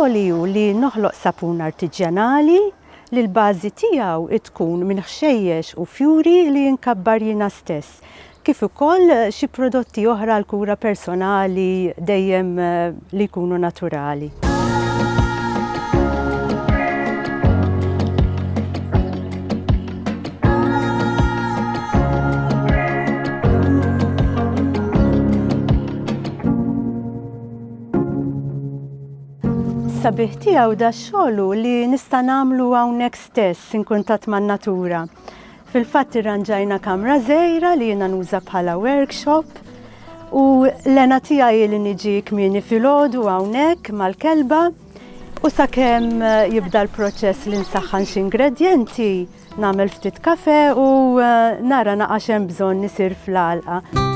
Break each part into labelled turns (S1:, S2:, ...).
S1: Xogħli hu li noħloq sapun artiġjanali li l-bażi tiegħu tkun minn ħxejjex u fjuri li nkabbar jiena stess. kif ukoll xi prodotti oħra għall-kura personali dejjem li jkunu naturali. Is-sabiħ tiegħu dax-xogħol hu li nista' nagħmlu hawnhekk stess inkuntatt man-natura. Fil-fatt irranġajna kamra żgħira li jiena nuża bħala workshop u l-għena tiegħi hi li niġi kmieni filgħodu hawnhekk mal-kelba u sakemm jibda l-proċess li nsaħħan xi ingredjenti, nagħmel ftit kafè u nara naqa' x'hemm bżonn isir fl-għalqa.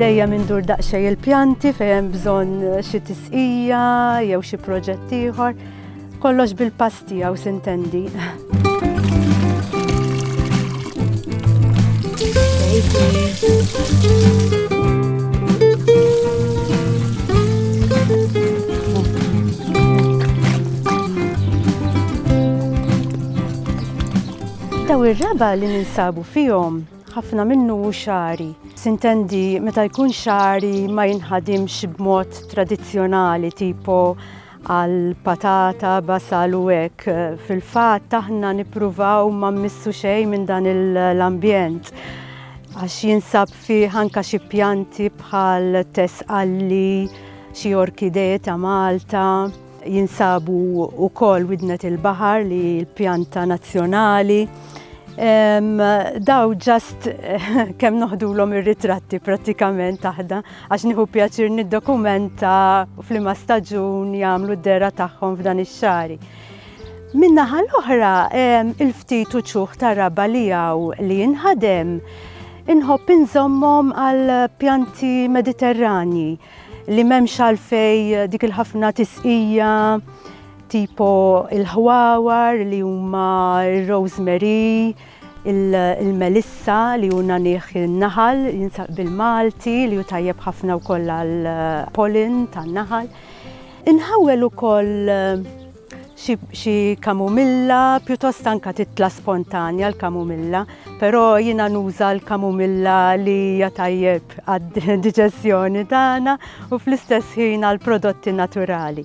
S1: dejjem indur daqsxejn il-pjanti fejn hemm bżonn xi tisqija jew xi proġett ieħor. Kollox bil-pass tiegħu sintendi. Daw ir-raba li ninsabu fihom ħafna minnu xari. Sintendi meta jkun xari ma jinħadimx b'mod tradizzjonali tipo għal patata, basal u hekk. Fil-fatt aħna nippruvaw ma mmissu xejn minn dan l-ambjent għax jinsab fih anka xi pjanti bħal tesqalli, xi orkidee ta' Malta, jinsabu wkoll widnet il-baħar li l-pjanta nazzjonali. Daw ġast kemm noħdulhom ir-ritratti prattikament aħna. għax nieħu pjaċir niddokumenta f'liema staġun jagħmlu d-dera tagħhom f'dan ix-xari. Min-naħa l-oħra, il-ftit uċuħ ta' raba li hawn li jinħadem, inħobb inżommhom għal pjanti mediterrani li memx għalfej eh, dik il-ħafna tisqija tipo il-ħwawar li huma il-rosemary, Il-melissa li hu nagħniegħ in-naħal jinsab bil-Malti li hu tajjeb ħafna wkoll għall-pollen tan-naħal. Inħawwel ukoll xi kamumilla, pjuttost anke titla' spontanja l-kamumilla, però jiena nuża l-kamumilla li hija tajjeb għad-diġeżjoni tagħna u fl-istess ħin għall-prodotti naturali.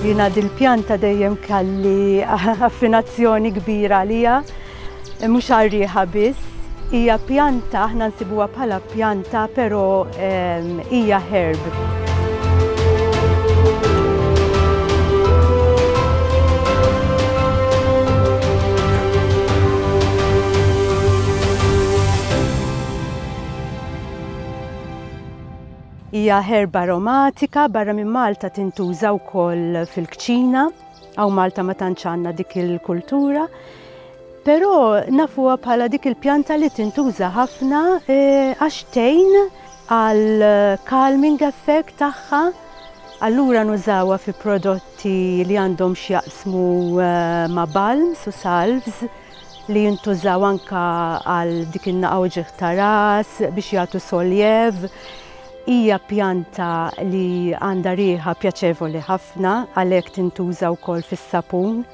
S1: Jiena dil-pjanta dejjem kelli affinazzjoni kbira għalija, mhux għar-riħa biss. Hija pjanta, aħna nsibuha bħala pjanta, però ehm, hija herb. Hija ħerba aromatika, barra minn Malta tintuża wkoll fil-kċina, hawn Malta ma tantx għandna dik il-kultura. Però nafuha bħala dik il-pjanta li tintuża ħafna e, għax tejn għal calming effect tagħha. Allura nużawha fi prodotti li għandhom x'jaqsmu e, ma' balms u salvs li jintużaw anka għal dik in-naqa' u ġieħ ta' ras biex jagħtu soljev. Hija pjanta li għandha riħa pjaċevoli ħafna għalhekk tintuża wkoll fis-sapun.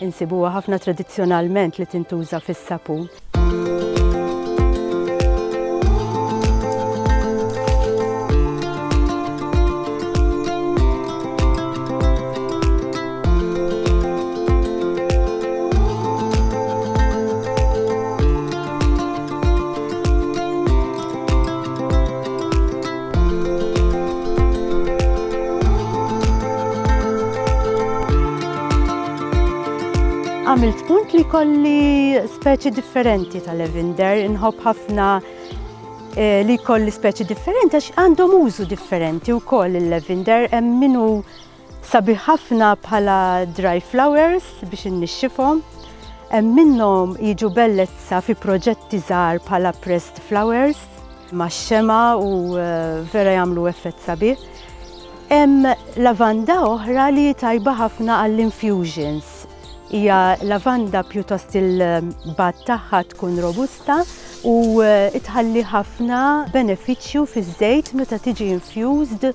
S1: Insibuha ħafna tradizzjonalment li tintuża fis-sapun. Għamilt punt li kolli speċi differenti tal-levinder, inħobb ħafna eh, li kolli speċi differenti għax għandhom użu differenti u koll il-levinder, minu Sabiħ ħafna bħala dry flowers biex innixxifhom. Hemm minnhom jiġu bellezza fi proġetti żgħar bħala pressed flowers max-xema u eh, vera jagħmlu effett sabiħ. Hemm lavanda oħra li tajba ħafna għall-infusions hija lavanda pjuttost il-bat tagħha tkun robusta u eh, tħalli ħafna benefiċċju fiż-żejt meta tiġi infused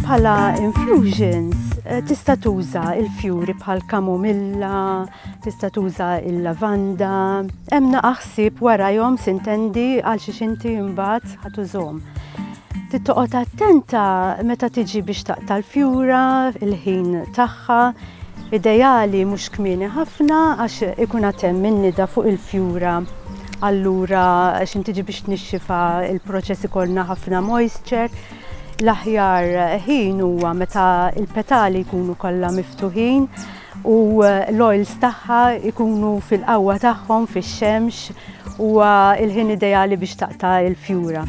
S1: Bħala infusions Eh, tista' tuża il-fjuri bħal kamomilla, tista' tuża il-lavanda, hemm naqaħsib warajhom sintendi għal xi xinti imbagħad ħatużhom. Trid toqgħod attenta meta tiġi biex taqta' l-fjura, il-ħin tagħha, ideali mhux kmieni ħafna għax ikun għatem minnida fuq il-fjura. Allura xin tiġi biex tnixxifa il-proċess ikollna ħafna moisture. L-aħjar ħin huwa meta il-petali jkunu kollha miftuħin u l-oils tagħha jkunu fil-qawwa tagħhom fix-xemx huwa l-ħin ideali biex taqta' l-fjura.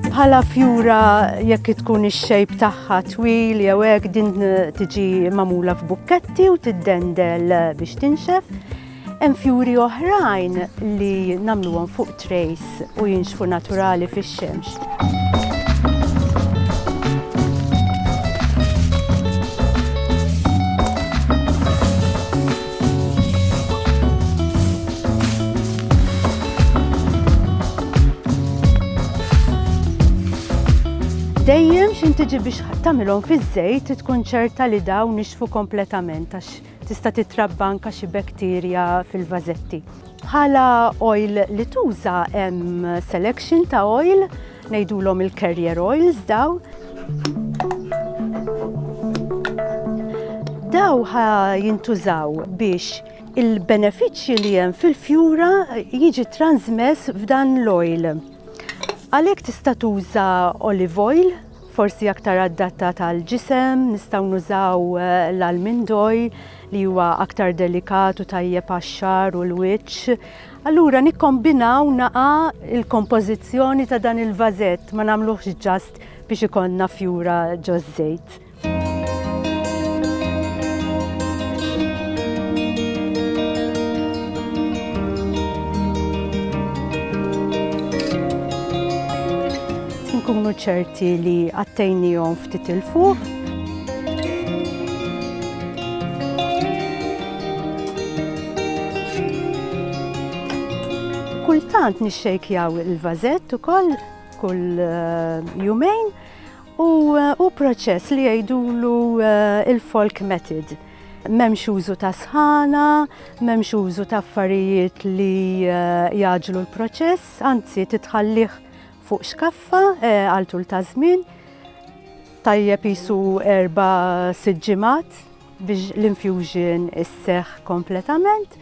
S1: Bħala fjura jekk tkun ix-xejp tagħha twil jew hekk din tiġi magħmula f'bukketti u tiddendel biex tinxef. Hemm fjuri oħrajn li nagħmluhom fuq trejs u jinxfu naturali fix-xemx. Dejjem x'intiġi biex tagħmilhom fiż-żejt tkun ċerta li dawn nixfu kompletament għax Tista' titrabba anke xi bektirja fil-vażetti. Bħala oil li tuża hemm selection ta' oil, ngħidulhom il-carrier oils daw. Daw ħa jintużaw biex il-benefiċċju li hemm fil-fjura jiġi transmess f'dan l-oil. Għalhekk tista' tuża olive oil, forsi aktar adattat għal ġisem, nistgħu nużaw l-almindoj li huwa aktar delikat u tajjeb għax-xar u l-wiċċ. Allura nikkombinaw naqa il-kompożizzjoni ta' dan il-vażett ma nagħmluhx ġast biex ikollna fjura ġo żejt. Inkunu ċerti li għattejnijom ftit il-fuq. Kultant nixxejkjaw il-vazett ukoll kull eh, jumejn u eh, proċess li jgħidulu eh, il-folk method memx użu ta' sħana, memx użu ta' affarijiet li jaġlu l-proċess, anzi titħallih Fuq xkaffa għal tul ta' żmien tajjeb qisu erba' sitt ġimgħat biex l-infusion isseħħ kompletament.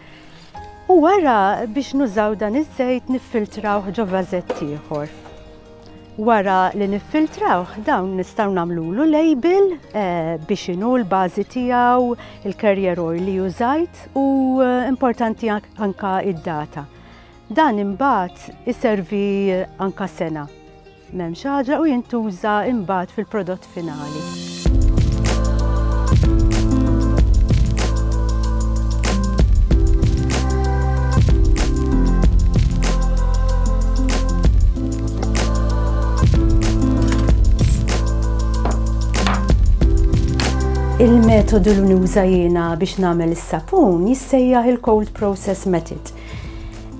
S1: U wara biex nużaw dan iż-żejt niffiltrawh ġo vażett ieħor. Wara li niffiltrawh dawn nistgħu nagħmlulu label eh, biex inhu l-bażi tiegħu, il-carrier oil li użajt u eh, importanti anka id-data. Dan imbagħad iservi anka sena. M'hemmx ħaġa u jintuża imbagħad fil-prodott finali. Il-metodu li nuża jiena biex nagħmel is-sapun jissejjaħ il-cold process method.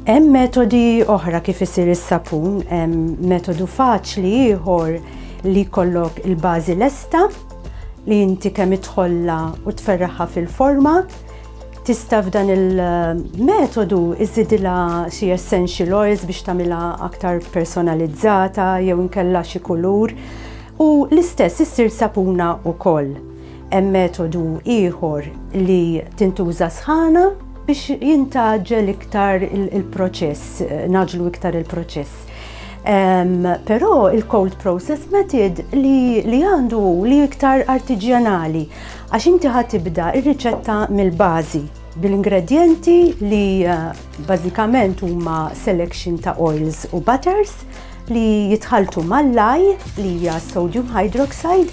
S1: Hemm metodi oħra kif isir is-sapun, hemm metodu faċli ieħor li jkollok il-bażi lesta li inti kemm idħollha u tferraħha fil-forma. Tista' f'dan il-metodu iżidilha xi essential oils biex tagħmilha aktar personalizzata jew inkella xi kulur u l-istess issir sapuna wkoll. Hemm metodu ieħor li tintuża sħana biex jintaġġel iktar il-proċess, naġlu iktar il-proċess. Um, Però il-cold process method li, li għandu li iktar artiġjanali, għax inti ħatibda ir-riċetta mill-bażi bil-ingredienti li uh, bażikament huma selection ta' oils u butters li jitħaltu mal-laj li hija sodium hydroxide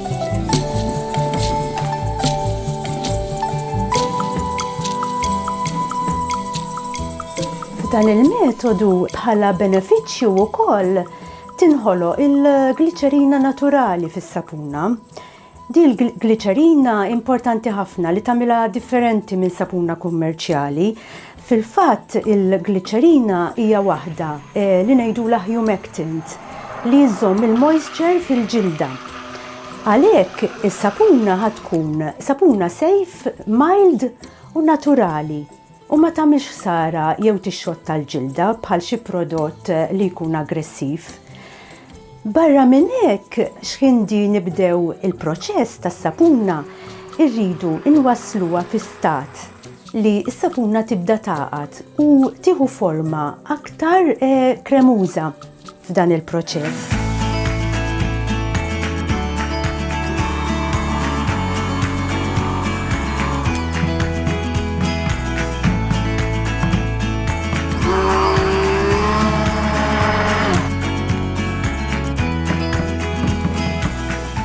S1: F'dan il-metodu bħala benefiċċju wkoll tinħoloq il-gliċerina naturali fis-sapuna. Di l-gliċerina importanti ħafna li tagħmilha differenti minn sapuna kummerċjali Fil-fatt, il-gliċerina hija waħda li ngħidulha humectant li żżomm il-moisture fil-ġilda. Għalhekk, is-sapuna ħa tkun sapuna safe, mild u naturali u ma tagħmilx ħsara jew tixxotta l-ġilda bħal xi prodott li jkun aggressiv. Barra minn hekk, x'ħindi nibdew il-proċess tas-sapuna, irridu nwassluha fi stat li s-sapuna tibda tagħqad u tieħu forma aktar kremuża f'dan il-proċess.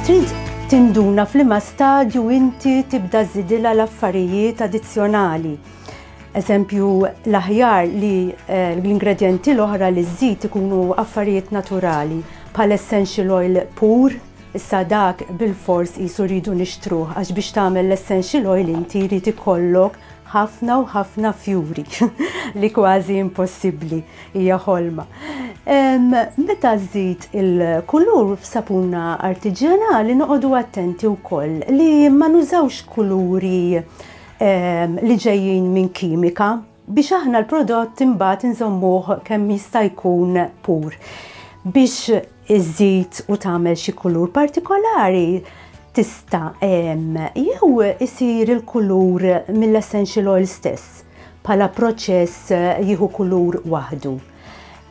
S1: Trid tinduna f'liema stadju inti tibda żidilha l-affarijiet addizzjonali. Eżempju, l-aħjar li eh, l-ingredjenti l-oħra li żżid ikunu affarijiet naturali, bħal essential oil pur, issa dak bil-fors jisu rridu nixtruh, għax biex tagħmel l-essential oil inti jrid ikollok Ħafna u ħafna fjuri li kważi impossibbli hija ħolma. Meta żżid il-kulur f'sapuna artiġjanali noqogħdu attenti wkoll li ma nużawx kuluri li ġejjin minn kimika biex aħna l-prodott imbagħad inżommuh kemm jista' jkun pur biex iżżid u tagħmel xi kulur partikolari tista' jew isir il-kulur mill-essential oil stess bħala proċess jieħu kulur waħdu.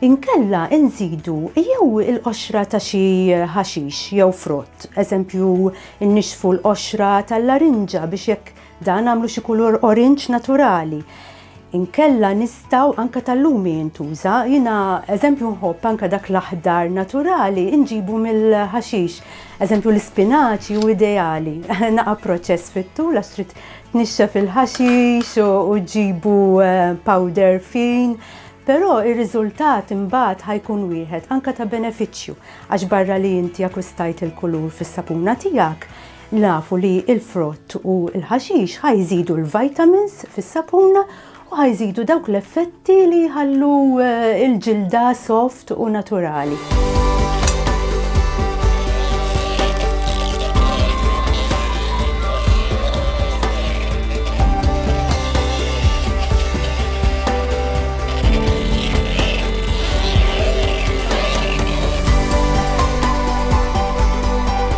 S1: Inkella inżidu jew il-qoxra ta' xi ħaxix jew frott, eżempju nnixxfu l-qoxra tal-larinġa biex jekk Dan għamlu xi kulur orinġ naturali. Inkella nistaw anka tal-lumi jintuża, jina eżempju nħobb anka dak l-aħdar naturali inġibu mill-ħaxix. Eżempju l-spinaċi u ideali. Naqa proċess fittu, la strit tnixxa fil-ħaxix u ġibu eh, powder fin. Però ir-riżultat imbagħad ħajkun wieħed anka ta' benefiċċju għax barra li inti akwistajt il-kulur fis-sapuna tiegħek, Nafu li l-frott u l-ħaxix ħa jżidu l-vitamins fis-sapun u ħa jżidu dawk l-effetti li jħallu eh, l-ġilda soft u naturali.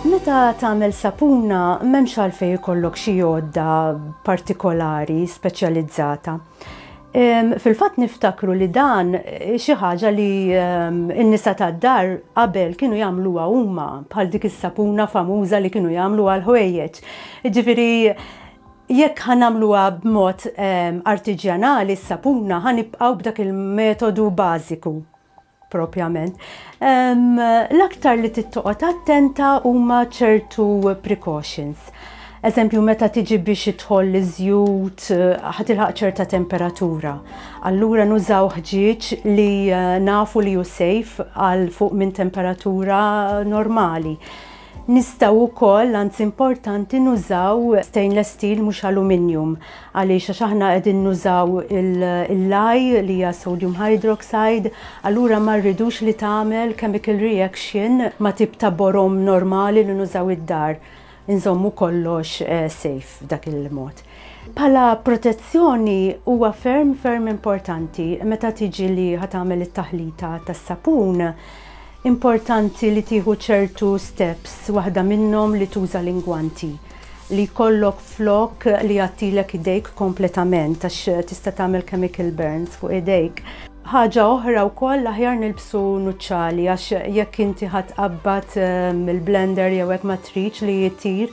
S1: Meta tagħmel sapuna m'hemmx għalfejn ikollok xi għodda partikolari speċjalizzata. Fil-fatt niftakru li dan xi ħaġa li n-nisa tad-dar qabel kienu jagħmluha huma bħal dik is-sapuna famuża li kienu jagħmlu għall-ħwejjeġ. Jiġifieri jekk ħa nagħmluha b'mod artiġjanali s-sapuna ħa nibqgħu b'dak il-metodu bażiku. propjament. L-aktar li tittoqgħod attenta huma ċertu precautions. Eżempju, meta tiġi biex idħol li żjut ħatilħaq ċerta temperatura. Allura nużaw ħġieġ li eh, nafu li hu safe għal fuq minn temperatura normali. Nistgħu wkoll, anzi importanti, nużaw stainless steel mhux aluminium. Għaliex? Għax aħna qegħdin nużaw il-lye li hija sodium hydroxide, allura ma rridux li tagħmel chemical reaction ma' tip ta' borom normali li nużaw id-dar. Inżommu kollox safe b'dak il-mod. Bħala protezzjoni huwa ferm ferm importanti meta tiġi li ħa tagħmel it-taħlita tas-sapun Importanti li tieħu ċertu steps, waħda minnhom li tuża l-ingwanti li jkollok flok li jgħattilek idejk kompletament għax tista' tagħmel chemical burns fuq idejk. Ħaġa oħra wkoll l-aħjar nilbsu nuċċali għax jekk inti ħa tqabbad il-blender jew hekk ma tridx li jtir.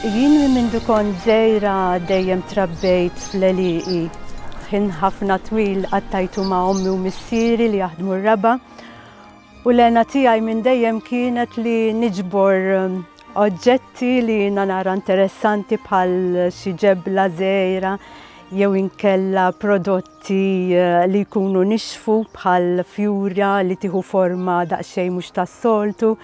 S1: Jien minn mindu kont żgħira dejjem trabbejt fl-għelieqi. Ħin ħafna twil qattajtu ma' ommi u missieri li jaħdmu r-raba' u l-għena tiegħi minn dejjem kienet li niġbor um, oġġetti li jiena nara interessanti bħal xi ġebla żgħira jew inkella prodotti uh, li jkunu nixfu bħal fjura li tieħu forma daqsxejn mhux tas-soltu.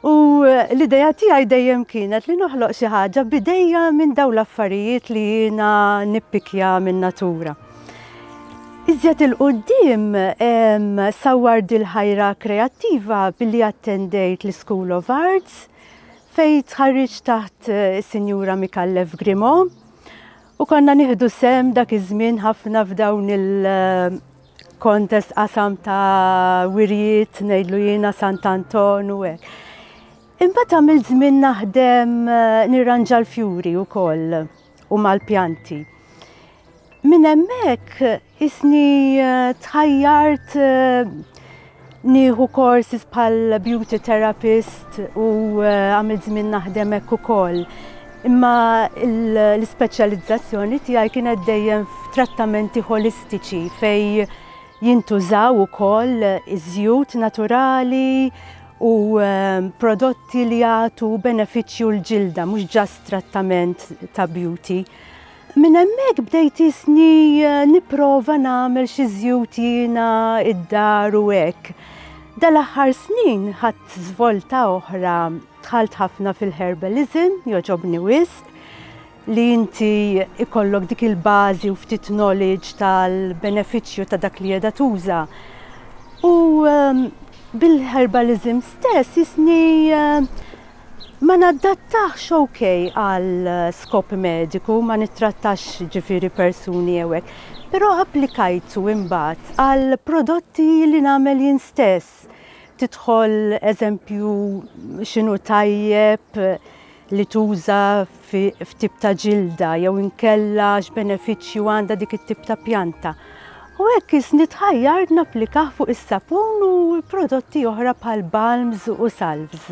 S1: U l-idea tiegħi dejjem kienet li noħloq xi ħaġa b'idejja minn dawn l-affarijiet li jiena nippikja min-natura. Iżjed il-qudiem sawwar dil-ħajra kreattiva billi attendejt l-School of Arts fejn tħarriġt taħt is-Sinjura Mikallef Grimo u konna nieħdu sehem dak iż-żmien ħafna f'dawn il- Kontest qasam ta' wirjiet, ngħidlu jiena Sant Anton u hekk. Imbagħad għamil żmien naħdem eh, nirranġa l-fjuri wkoll u mal-pjanti. Minn hemmhekk isni eh, tħajjart eh, Nieħu courses bħal beauty therapist u eh, għamil żmien naħdem hekk ukoll. Imma l-ispeċjalizzazzjoni tiegħi kienet dejjem f'trattamenti holistiċi fej jintużaw ukoll iż-żjut naturali u eh, prodotti li jagħtu benefiċċju l-ġilda, mhux ġast trattament ta' beauty. Minn hemmhekk bdejt isni eh, nipprova nagħmel xi żjut jiena id-dar u hekk. Dal-aħħar snin ħadd żvolta oħra dħalt ħafna fil-herbalism, joġobni wisq, li inti ikollok dik il-bażi u ftit knowledge tal-benefiċċju ta' dak li qiegħda tuża. U ehm, bil-herbalism stess jisni eh, Ma nadattax ok għal skop mediku, ma nittrattax ġifieri persuni jew hekk, però applikajtu imbagħad għal prodotti li nagħmel jien stess. Tidħol eżempju x'inhu tajjeb li tuża fi f'tip ta' ġilda jew inkella x'benefiċċju għandha dik it-tip ta' pjanta. U hekk isni tħajjar napplikah fuq is-sapun u prodotti oħra bħal balms u salvs.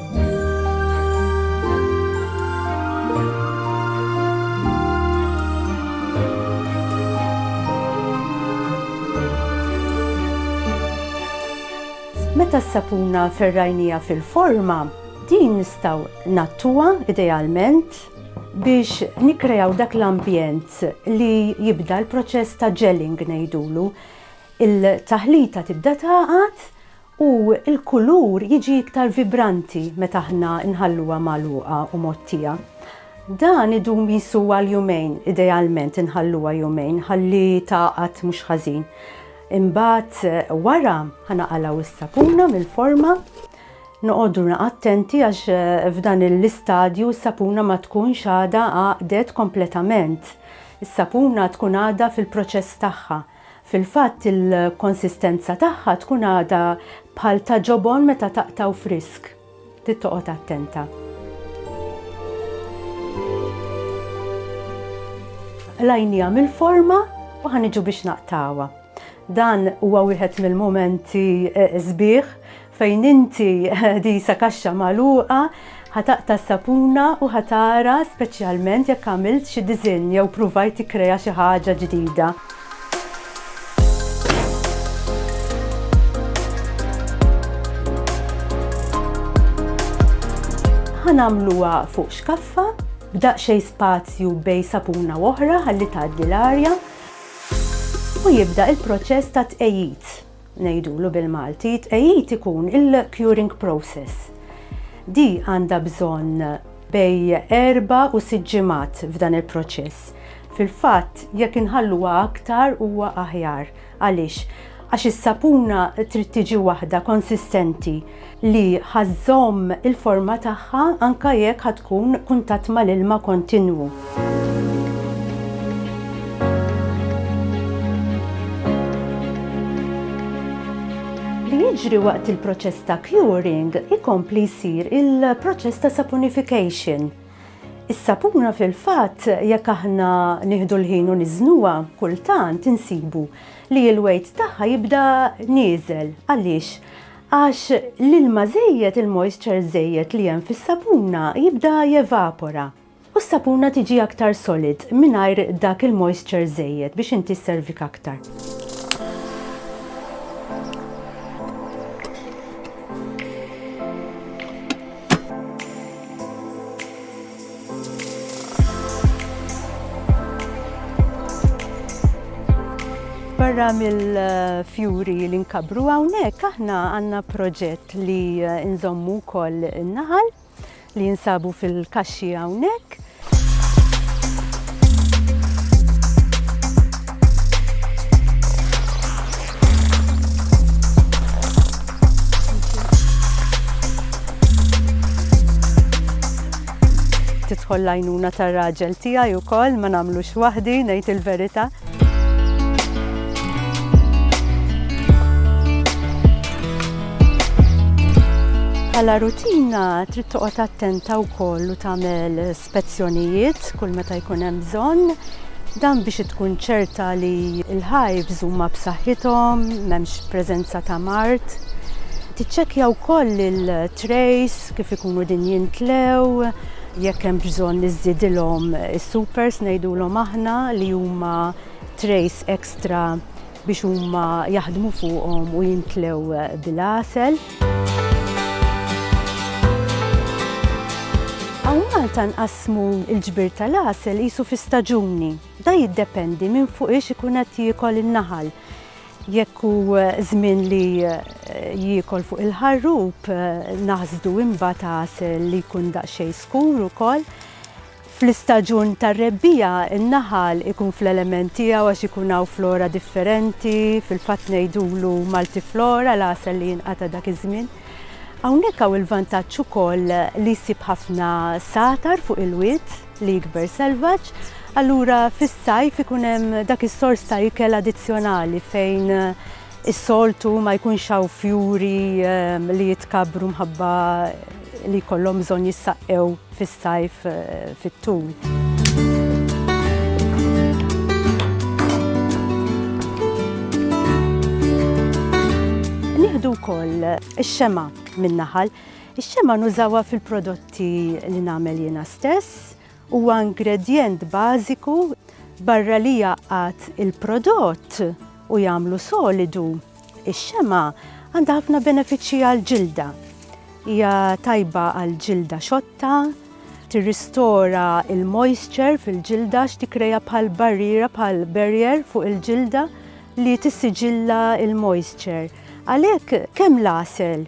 S1: Meta s-sapuna ferrajnija fil-forma, din nistaw ngħattuha idealment biex nikrejaw dak l-ambjent li jibda l-proċess ta' gelling ngħidulu. Il-taħlita tibda tagħqad u l-kulur jiġi iktar vibranti meta aħna nħalluha magħluqa u mgħottija. Dan idum qisu għal jumejn, idealment inħalluha jumejn ħalli tgħaqad mhux ħażin. Imbagħad wara ħa naqalgħu s-sapuna mill-forma noqogħdu attenti għax eh, f'dan l-istadju s-sapuna ma tkunx għada għaqdet kompletament. Is-sapuna tkun għada fil-proċess tagħha. Fil-fatt il-konsistenza tagħha tkun għadha bħal ta' ġobon meta taqtgħu frisk. Trid toqgħod attenta. Qlajniha mill-forma u ħa niġu biex naqtgħuha. Dan huwa wieħed mill-mumenti sbieħ Fejn inti disa kaxxa magħluqa, ħa taqta' s-sapuna u ħa tara speċjalment jekk għamilt xi diżinn jew pruvajt tikkrea xi ħaġa ġdida. Ħa nagħmluha fuq xkaffa b'daqsxejn spazju bejn sapuna u oħra ħalli tgħaddi l-arja u jibda l-proċess tat-tqegħid. ngħidulu bil-Malti, tqegħid ikun il-curing process. Di għandha bżonn bej erba' u sitt ġimgħat f'dan il-proċess. Fil-fatt, jekk inħalluha aktar huwa aħjar. Għaliex? Għax is-sapuna trid tiġi waħda konsistenti. li ħa żżomm il-forma tagħha anke jekk ħa tkun kuntatt mal-ilma kontinwu. jiġri waqt il-proċess ta' curing ikompli jsir il-proċess ta' saponification. Is-sapuna fil-fatt jekk aħna nieħdu l-ħin u niżnuha kultant insibu li l-wejt tagħha jibda nieżel. Għaliex? Għax l-ilma żejjed, il-moisture żejjed li hemm fis-sapuna jibda jevapora u s-sapuna tiġi aktar solid mingħajr dak il-moisture żejjed biex inti sservik aktar. Barra mill-fjuri li nkabru hawnhekk aħna għandna proġett li nżommu wkoll in-naħal li jinsabu fil-kaxxi hawnhekk tidħol lajnuna tar-raġel tiegħi wkoll ma nagħmlux waħdi ngħid il-verità. Għala rutina trid toqgħod attenta wkoll u tagħmel spezzjonijiet kull meta jkun hemm bżonn, dan biex tkun ċerta li l-hives huma b'saħħithom, m'hemmx preżenza ta' mard. Tiċċekkja wkoll il-trays kif ikunu din jintlew, jekk hemm bżonn li żżidilhom is-supers ngħidulhom aħna li huma trays ekstra biex huma jaħdmu fuqhom u jimtlew bil-għasel. Hawn Malta nqassmu l-ġbir tal-għasel qisu fi staġuni. Da jiddependi minn fuq ix ikun qed jiekol in-naħal. Jekk hu żmien li jiekol fuq il-ħarrub, naħsdu imbagħad għasel li jkun daqsxejn skur ukoll. Fl-istaġun tar-rebbiegħa n-naħal ikun fl-element tiegħu għax ikun hawn flora differenti, fil-fatt ngħidulu multiflora l-għasel li jinqata' dak iż-żmien. Hawnhekk hawn il-vantaġġ ukoll li jsib ħafna satar fuq il-wied li jikber selvaġġ, allura fis-sajf ikun hemm dak is-sors ta' ikel addizzjonali fejn Is-soltu ma jkunx hawn fjuri li jitkabbru mħabba li jkollhom bżonn jissaqqew fis-sajf fit-tul. Nieħdu wkoll ix-xema min-naħal. Ix-xema nużawha fil-prodotti li nagħmel jiena stess, Huwa ingredjent bażiku, barra li jgħaqqad il-prodott u jagħmlu solidu, ix-xemgħa għandha ħafna benefiċċji għall-ġilda. Hija tajba għal ġilda xotta, tirristora l-moisture fil-ġilda għax tikkrea bħal barriera bħal barrier fuq il-ġilda li tissiġilla l-moisture. Għalhekk kemm l-għasel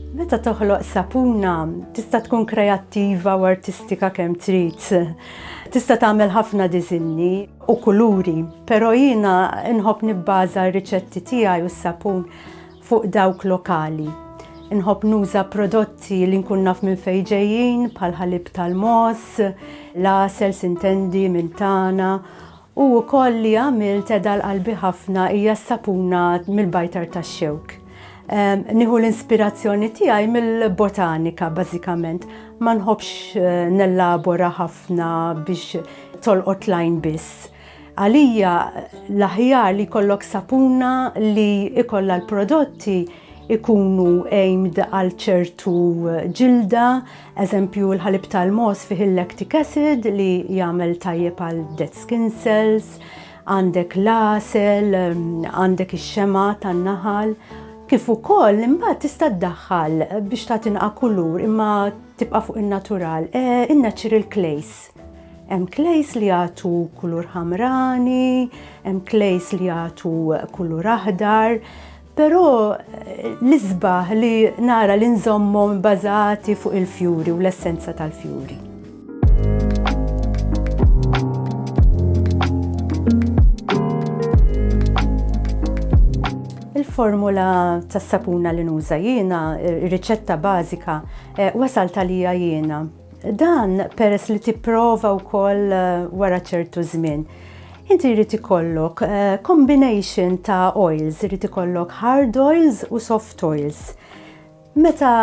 S1: Meta toħloq sapuna, tista' tkun kreattiva u artistika kemm trid. Tista' tagħmel ħafna diżinni u kuluri, però jiena nħobb nibbaża r-riċetti tiegħi u s-sapun fuq dawk lokali. Inħobb nuża prodotti li nkun naf minn fejn ġejjin bħal ħalib tal-moss, l-għasel sintendi minn tagħna U wkoll li għamilt qiegħda għal qalbi ħafna hija s-sapuna mill-bajtar tax-xewk. Nieħu l-inspirazzjoni tiegħi mill-botanika bażikament. Ma nħobbx nellabora ħafna biex tolqot l-għajn biss. Għalija l-aħjar li jkollok sapuna li jkollha l-prodotti jkunu aimed għal ċertu ġilda, Eżempju, il-ħalib tal-mogħoż fih il-lactic acid li jagħmel tajjeb għal dead skin cells, għandek l-għasel, għandek ix-xema tan-naħal, kif ukoll imbagħad tista' ddaħħal biex ta' tinqa' kulur imma tibqa' fuq in-natural, eh, in-natural clays. Hemm klejs li jagħtu kulur ħamrani, hemm klejs li jagħtu kulur aħdar, Però l-isbaħ li nara li nżommhom bażati fuq il-fjuri u l-essenza tal-fjuri. formula tas sapuna li nuża jiena, riċetta bażika, eh, wasal talija jiena. Dan peress li tipprova wkoll eh, wara ċertu żmien. Inti jrid ikollok eh, combination ta' oils, jrid ikollok hard oils u soft oils. Meta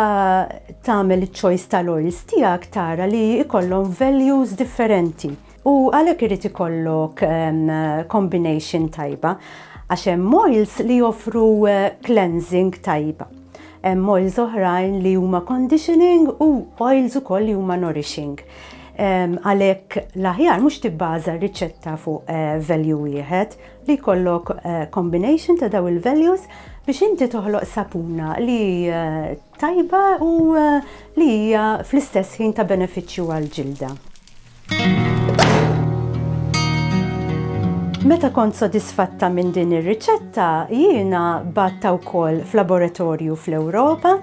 S1: tagħmel iċ-choice tal-oils tiegħek tara li jkollhom values differenti. U għalhekk irid ikollok combination tajba għax hemm oils li joffru cleansing tajba. Hemm oils oħrajn li huma conditioning u oils ukoll li huma nourishing. Għalhekk l-aħjar mhux tibbaża r-riċetta fuq value wieħed, li jkollok combination ta' dawn il-values biex inti toħloq sapuna li tajba u li hija fl-istess ħin ta' benefiċċju għall-ġilda. Meta kont sodisfatta minn din ir-riċetta, jiena batta wkoll f'laboratorju fl-Ewropa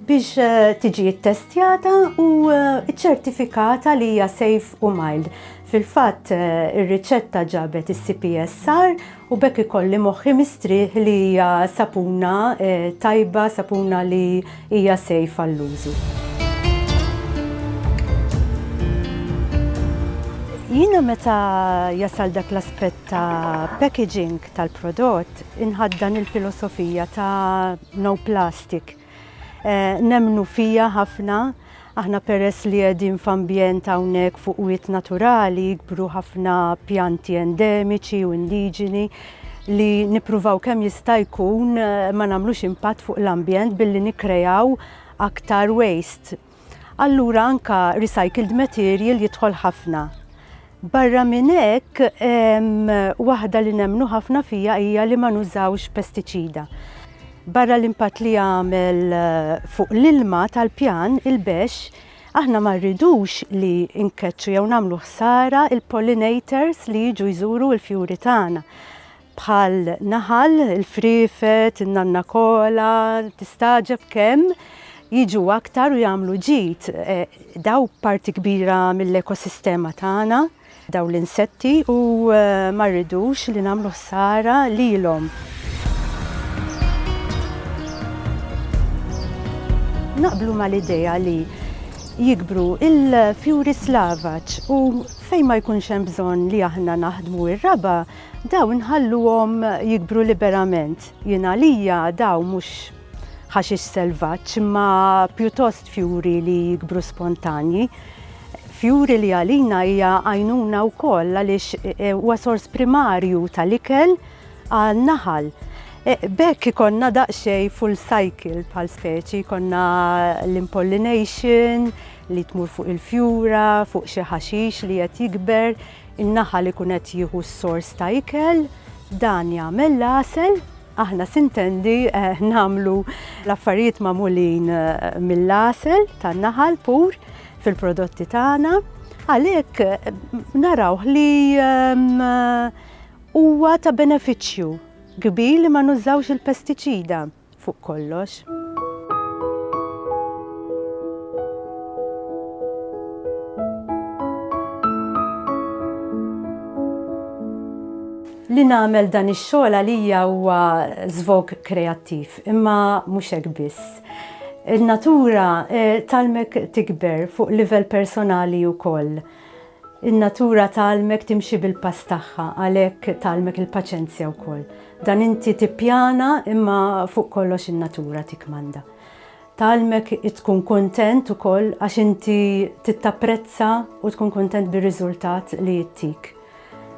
S1: biex eh, tiġi ttestjata u eh, ċertifikata li hija safe u mild. Fil-fatt eh, ir-riċetta ġabet is-CPSR u b'hekk ikolli moħħi mistrieħ li hija sapuna tajba, sapuna li hija safe għall-użu. Jiena meta jasal dak l-aspett ta' packaging tal-prodott inħaddan il-filosofija ta' no plastic. Nemmnu fija ħafna, aħna peress li qegħdin f'ambjent hawnhekk fuq wied naturali jikbru ħafna pjanti endemiċi u indiġeni li nippruvaw kemm jista' jkun ma nagħmlux impatt fuq l-ambjent billi nikkrejaw aktar waste. allura anke recycled material jidħol ħafna. Barra minn hekk, waħda li nemmnu ħafna fija hija li ma nużawx pestiċida. Barra l-impatt li jagħmel eh, fuq l-ilma tal-pjan, il-bex, aħna ma rridux li nkeċċu jew nagħmlu ħsara il-pollinators li jiġu jżuru l-fjuri tagħna. bħal naħal, il-friefet, in-nanna kola, tistagħġeb kemm jiġu aktar u jagħmlu ġid. E, daw parti kbira mill-ekosistema tagħna, daw l-insetti u e, ma rridux li nagħmlu ħsara lilhom. naqblu mal-idea li jikbru il-fjuri slavaċ u fejn ma jkunx hemm bżonn li aħna naħdmu ir-raba' Dawn nħalluhom jikbru liberament. Jien għalija dawn mhux ħaxix selvaġġ imma pjuttost fjuri li jikbru spontanji. Fjuri li għalina hija għajnuna wkoll għaliex e, e, huwa sors primarju tal-ikel għal naħal. E, bekk ikonna daqsxejn full cycle bħal speċi, konna l-impollination li tmur fuq il-fjura, fuq xi ħaxix li qed jikber, In-naħal ikun qed jieħu s-sors ta' ikel, dan jagħmel l-għasel, aħna sintendi nagħmlu l-affarijiet magħmulin mill-għasel tan-naħal pur fil-prodotti tagħna, għalhekk narawh li huwa ta' benefiċċju kbir li ma nużawx il-pestiċida. fuq kollox. Li nagħmel dan ix-xogħol għalija huwa żvog kreattiv, imma mhux hekk biss. In-natura eh, talmek tikber fuq livell personali wkoll. In-natura tgħallmek timxi bil-pass tagħha, għalhekk tgħallmek il-paċenzja wkoll. Dan inti tippjana imma fuq kollox in-natura tikkmanda. Tgħallmek tkun kuntent ukoll għax inti tittapprezza u tkun kuntent bir-riżultat li jittik.